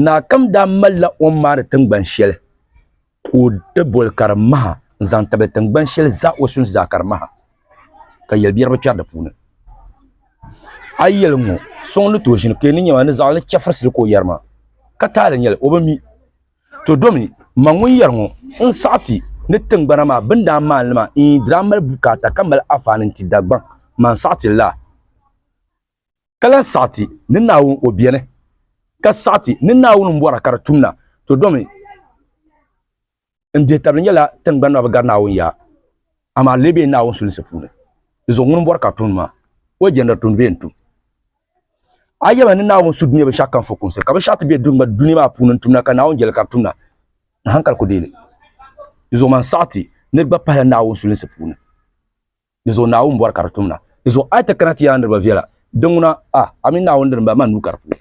Naakam daa malila o ni maani tingbani shɛli ka o ti boli Karimaha n-zaŋ tabili tingbani shɛli zaa o sunsi zaa Karimaha ka yɛlibiɛri bi kpɛri di puuni. A yi yɛli ŋ-ŋɔ, so ŋun ni tooi ʒini ka yi ni nya maa ni zaɣili ni chɛfirisili ka o yɛri maa, ka taali nyɛli, o bi mi. To domi, ma ŋun yɛri ŋɔ, n saɣi ti ni tingbana maa bɛ ni daa maani li maa, iin di daa mali bukaata ka mali afaani n-ti Dagbaŋ, ma n saɣi ti li laa. ka lan saɣi ti ni Naawuni o beni, ka saɣi ti ni Naawuni m bɔra ka di tumda, to domi n dihitabili nyɛla tiŋgbani maa bi gari Naawuni ya, amaa lee be Naawuni sulinsi puuni, di zuɣu ŋuni m bɔri ka tumdi maa, o jɛndiri tumdi bee n-tum? A yɛlima ni Naawuni su dunia binshɛɣu kam fukumsi, ka binshɛɣu ti be dunia maa puuni n-tumda ka Naawuni jɛli ka di tumda, n hankali ku deei li. Di zuɣu man saɣi ti ni di gba pahila Naawuni sulinsi puuni. Di zuɣu Naawuni bɔri ka di tumda. Di zuɣu a yi ti kana ti yaa niriba viɛla, di ŋuna, a, a mini Naawuni dini m-bala, maa nuu ka di puhi.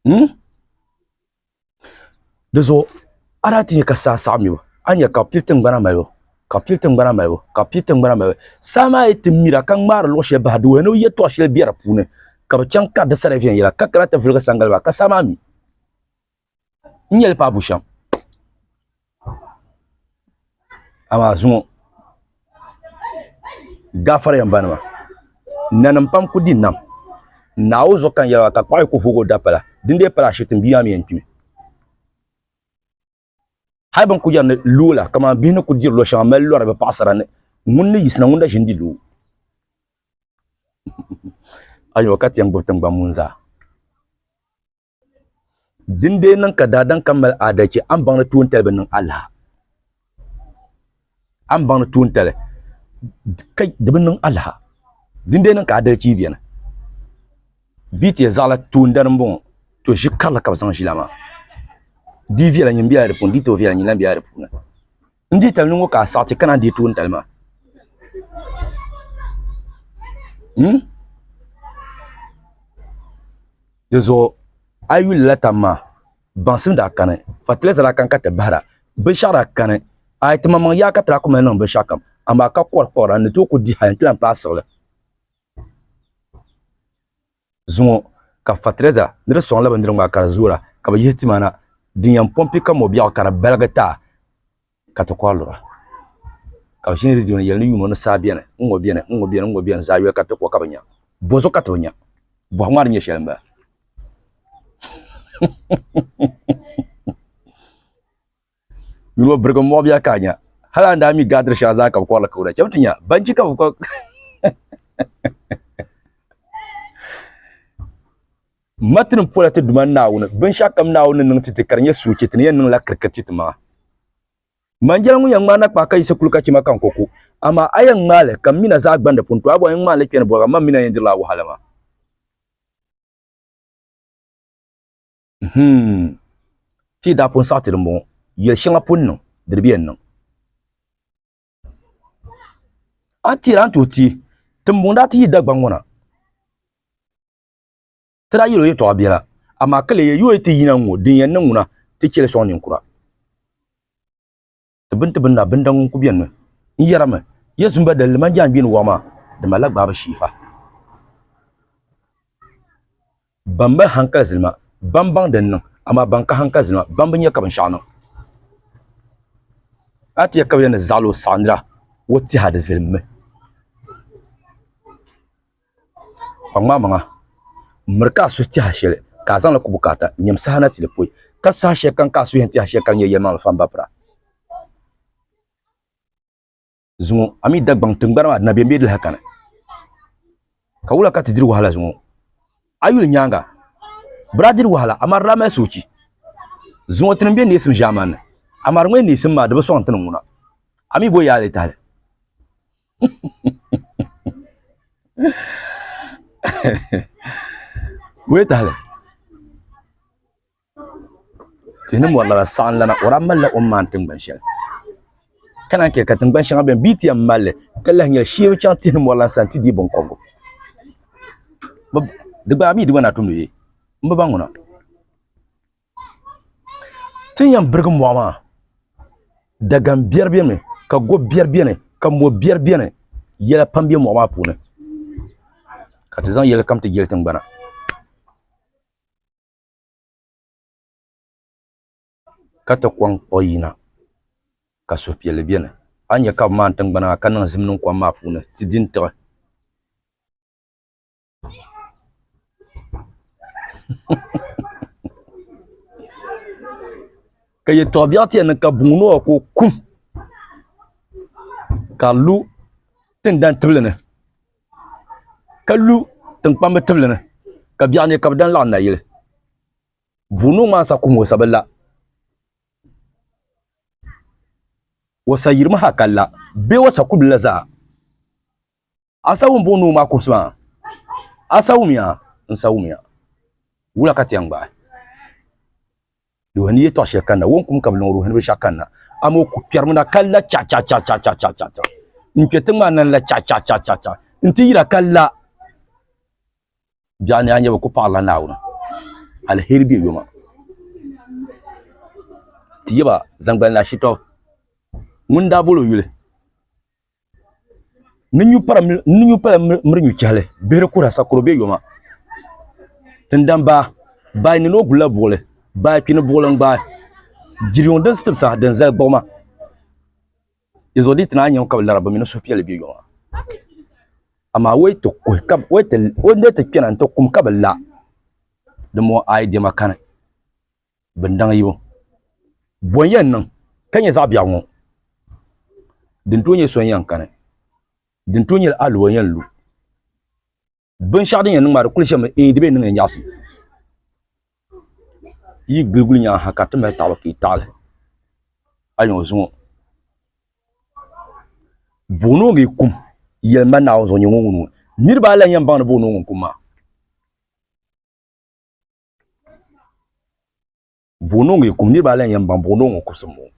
Hmm? Di zuɣu a daa ti nya ka saa saɣim yu, a ni nya ka bɛ pili tiŋgbana malibu, ka bɛ pili tiŋgbana malibu, ka bɛ pili tiŋgbana malibu. Saa maa yi ti mira ka ŋmaari luɣ shɛli bahi, di wuhi ni yɛtɔɣ shɛli be di puuni, ka bɛ chaŋ ka di sa di viɛnyɛla, ka kana ti viligi saŋgaliba, ka saa maa mi. n yɛli paɣa bushɛm amaa zuŋɔ gafariya n ba nima nanim pam ku di nam naawu zuɣu ka n yɛli ba ka kpuɣi ku vooi o dapala din dee pala ashibiti n bia maa mii yɛn kpimi hali bin ku yɛri ni loo la kamani bihi ni ku diri lo shɛŋa mali lori bi paɣasara ni ŋun ni yisina ŋun na ʒini di loo ayo ka tiɛn gbubi tingbani mun zaa Din dee niŋ ka daadam kam mali aadalchi, a ni baŋ ni tuuntali bi niŋ alaha. A ni baŋ ni tuuntali ka di bi niŋ alaha. Din dee niŋ ka aadalchi beni. Bɛ yi ti yɛli zaɣila tuundana m-bɔŋɔ, to ʒi karili ka bɛ zaŋ ʒila maa. Di viɛla nyini bela di puuni, di yi tooi viɛla nyini lahi bela di puuni. N deei tali niŋo ka a saɣiti kana deei tooni tali maa. Hmm? Di zuɣu a yi yuli la tam maa baŋsim daa kani fatilɛza daa kani ka ti bahira binshaɣu daa kani a yi ti maŋmaŋ yaa ka ti daa ku mali niŋ binshaɣu kam amaa ka kɔri kɔra n ni tooi ku di hali n ti lahi paai siɣili. zuŋɔ ka fatireza ni di sɔŋ la bindirigu maa ka di zoora ka bɛ yihi ti mana din yɛn pɔmpi ka mɔbiɛɣu ka di baligi ta ka ti kɔri lura. Ka bɛ ʒini ridio ni yɛli ni yuuma ni saa beni n-ŋɔ beni n-ŋɔ beni n-ŋɔ beni zaa yoli ka ti kɔ ka bɛ nya. Bɔzuɣu ka ti bi nya? Bɔhigu maa di nyɛ shɛli m-bala. Yuno birigi muɣu biya ka nya. Hali an daa mi gaadiri shɛŋa zaa ka bi kɔrili ka o da chɛm ti nya. Banchi ka bi kɔ. Matini pola ti duma Naawuni binshɛɣu kam Naawuni ni niŋ ti ti ka di nyɛ suuchi ti ni yɛn niŋla kirikiri ti ti maŋa. Manjɛli ŋun yɛn ŋmaana kpaa ka yisi kuli ka chima ka n ko ku, amaa a yɛn ŋmaali ka m mina zaa gbandi pun to a bɔŋ yɛn ŋmaanili kpɛni bɔbiga m ma mina yɛn dirila a wahala maa. Hmm. Ti daa pun saɣiti di m-bɔŋɔ. Yɛl shɛŋa pun niŋ, di di bi yɛn niŋ. A ni tihira n-tuhi ti, Tiŋbuŋ daa ti yi Dagbaŋ ŋɔ na. Ti daa yɛl o yɛtɔɣa biɛla, amaa ka leei yooyi ti yina n-ŋɔ din yɛn niŋ ŋuna, ti chɛ li sɔŋ ninkura. ti bini ti bini na binda ŋun ku beni mi. N yɛrimi, Yezu m-ba dalili man jaangbini wɔɣu maa, di malila gbaabu shiifa. Ban mali hankali zili ma, bɛn baŋ din niŋ, amaa ban ka hankali zili ma, bɛn bi nya ka binshɛɣu niŋ. A ti yɛli ka bɛ yɛn ni zaɣil o saɣindira, o tiha di zilimmi. Kpaŋmaŋ maŋa m miri ka a suhu tɛha shɛli ka a zaŋli ku bukaata n-nyam saha na ti di poi, ka saha shɛli kam ka a suhu yɛn tɛha shɛli ka di nyɛ yɛlimaŋli fambabira. Zuŋɔ, a mi Dagbaŋ tiŋgbani maa di na be m-be di lahi kani, ka wula ka ti diri wahala zuŋɔ? A yuli nyaaŋa, bɛ daa diri wahala amaa di daa mali soochi. Zuŋɔ tinim be neesim ʒiɛmani ni, amaa di ŋɔ yɛn neesim maa di bi sɔŋ n-ti ni ŋuna. A mi bo yaali tahili. Wee tahali tihi ni mori lana saɣam lana o lahi malila o ni maandi tingbani shɛli ka naan chɛ ka tingbani shɛŋa biɛni bia ti yɛn malli ka lahi nyɛli shee bi chɛŋ tihi ni mori lahi sani ti deei binkobgu di gbaai bia di gba na tumdi bee n bi baŋ ŋuna Ti ni yɛn birigi mɔɣu maa, Dagani biɛri beni mi, ka go biɛri beni, ka mɔ biɛri beni. Yɛla pam be mɔɣu maa puuni, ka ti zaŋ yɛli kam ti jeli tiŋgbana. Ka ti kɔŋ kpuɣi yina, ka suhupiɛlli beni. A ni nya ka bɛ maani tiŋgbana maa, ka niŋ zim niŋ kom maa puuni, ti di n-tiɣi. ka yɛ tɔɣa biɛɣu tiɛni ka buŋ noo ka o kum ka lu tindan tibili ni ka lu tinkpambi tibili ni ka biɛɣu ni ka bi dan laɣam nayili buŋ noo maa sa kum o sa bi la o sa yirimi ha ka la bee o sa ku bi la zaa Asa wum buŋ nuu maa kɔbisi maa. Asa wumiya n-sa wumiya. Wula ka ti yɛn gbaai? Ruhini yɛtɔɣ shɛli kanna, Wo n-kum ka bɛ lɔŋ ruhini binshɛɣu kanna, amaa o ku kpɛrimi na ka la chaɣichaɣichaɣichaɣichaɣichaɣ. N kpɛ tiŋ maa na n-la chaɣichaɣichaɣichaɣ, nti yira ka la. Biɛɣuni a nya bɛ ku paɣirila Naawuni aliheri bɛ yoma. Ti yɛ ba zaŋ gbali naa Shitɔɣu ŋun daa bol o yuli ni nyu pala miri nyu chɛhili bihiri kuhira sakuro bɛ yoma tindan baa baa nini o gulila buɣuli baa kpini buɣuli n gbaai jiri yuŋ din sitibisa din zali gbuɣuma dinzuɣu di yi ti naanyi ŋɔ ka bi lara bi mini suhupiɛlli bɛ yoma amaa o ni ti kpɛna n ti kum ka bi la dinbɔŋɔ ayi diɛma kani bin daŋ yibu bɔn yɛn niŋ ka nyɛ zaɣ biɛɣu ŋɔ, din tooi nyɛ so n-yɛn kani, din tooi nyɛla a lu o yɛn lu. Binshɛɣu din yɛn niŋ maa di kuli ʒɛmi eei di bee niŋya nyaɣisim. Yi gili guli nyaŋ ha ka ti mali taɣili ka yi taɣili a yɛn o zuŋɔ. Boonooge kum yɛlima Naawuni zuɣu nyɛ ŋun wum ŋɔ. Niriba ayi lan yɛn baŋ ni boonooge n-kum maa. buɣino ŋɔ kum niriba ala n yɛn baŋ buɣino ŋɔ kubisi n bɔŋɔ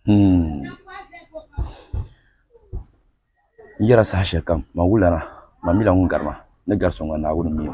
hmm. n yɛra saha shɛli kam ma wula na ma mila ŋun gari ma ni gari so ŋɔ naawuni mi o